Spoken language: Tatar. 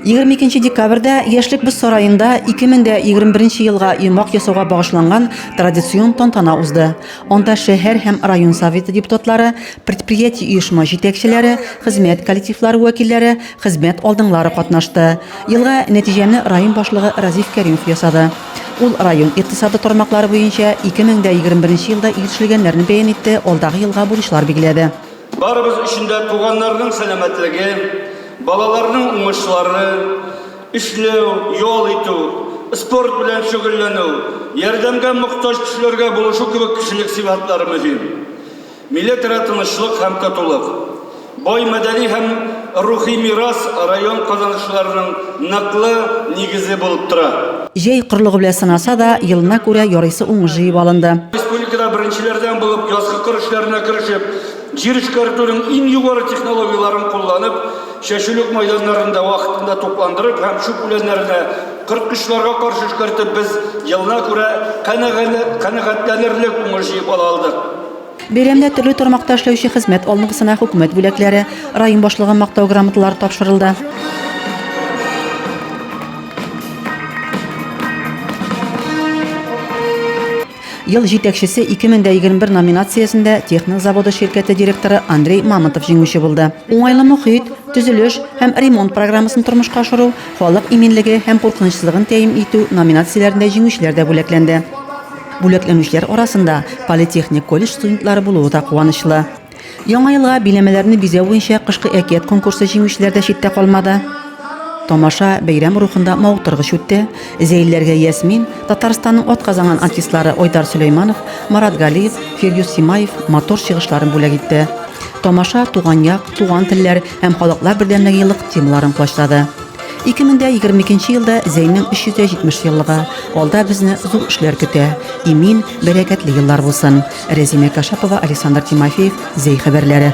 Егерме икенче декабрьдә Яшьлек боз сараенда 2021 елга йомгак ясауга багышланган традицион тантана узды. Анда шәһәр һәм район советы депутатлары, предприятие-оешма җитәкчеләре, хезмәт коллективлары вәкилләре, хезмәт алдыңлары катнашты. Елга нәтиҗәне район башлыгы Разиф Кәримов ясады. Ул район икътисады тармаклары буенча 2021 елда ирешелгәннәрне бәян итте, алдагы елга бурычлар билгеләде. Барыбыз өчен дә туганнарның сәламәтлеге, балаларның уңышлары, эшләү, ял итү, спорт белән шөгыльләнү, ярдәмгә мохтаҗ кешеләргә булышу кебек кешелек сыйфатлары мөһим. Милетара тынычлык һәм татулык, бай мәдәни һәм Рухи мирас район казанышларының ныклы нигезе булып тора. Җәй корылыгы белән сынаса да, елына күрә ярыйсы уңыш җыеп алынды. Республикада беренчеләрдән булып язгы кыр эшләренә керешеп, җир эшкәртүнең иң югары технологияләрен кулланып, чәчүлек майданнарын да вакытында тукландырып һәм чүп үләннәренә корткычларга каршы эшкәртеп, без елына күрә канәгатьләнерлек уңыш җыеп ала алдык. Бәйрәмдә төрле тармакта эшләүче хезмәт алныгысына хөкүмәт бүләкләре, район башлыгы мактау грамоталары тапшырылды. Ел җитәкчесе 2021 номинациясендә Техник заводы ширкәте директоры Андрей Мамонтов җиңүче булды. Уңайлы мохит, төзелеш һәм ремонт программасын тормышка ашыру, халык иминлеге һәм куркынычсызлыгын тәэмин итү номинацияләрендә җиңүчеләр дә бүләкләнде. Бүләкләнүчеләр арасында политехник колледж студентлары булуы да куанычлы. Яңа елга биләмәләрне бизәү буенча кышкы әкият конкурсы җиңүчеләр дә читтә калмады. Тамаша бәйрәм рухында мавыктыргыч үтте. Зәйлеләргә Ясмин, Татарстанның атказанган артистлары Айдар Сөләйманов, Марат Галиев, Фирдюс Симаев матур чыгышларын бүләк итте. Тамаша Туган як, туган телләр һәм халыклар бердәмлеге еллык темаларын колачлады. 2022 елда Зәйнең 370 еллыгы. Алда безне зур эшләр көтә. Имин, бәрәкәтле еллар булсын. Рәзимә Кашапова, Александр Тимофеев, Зәй хәбәрләре.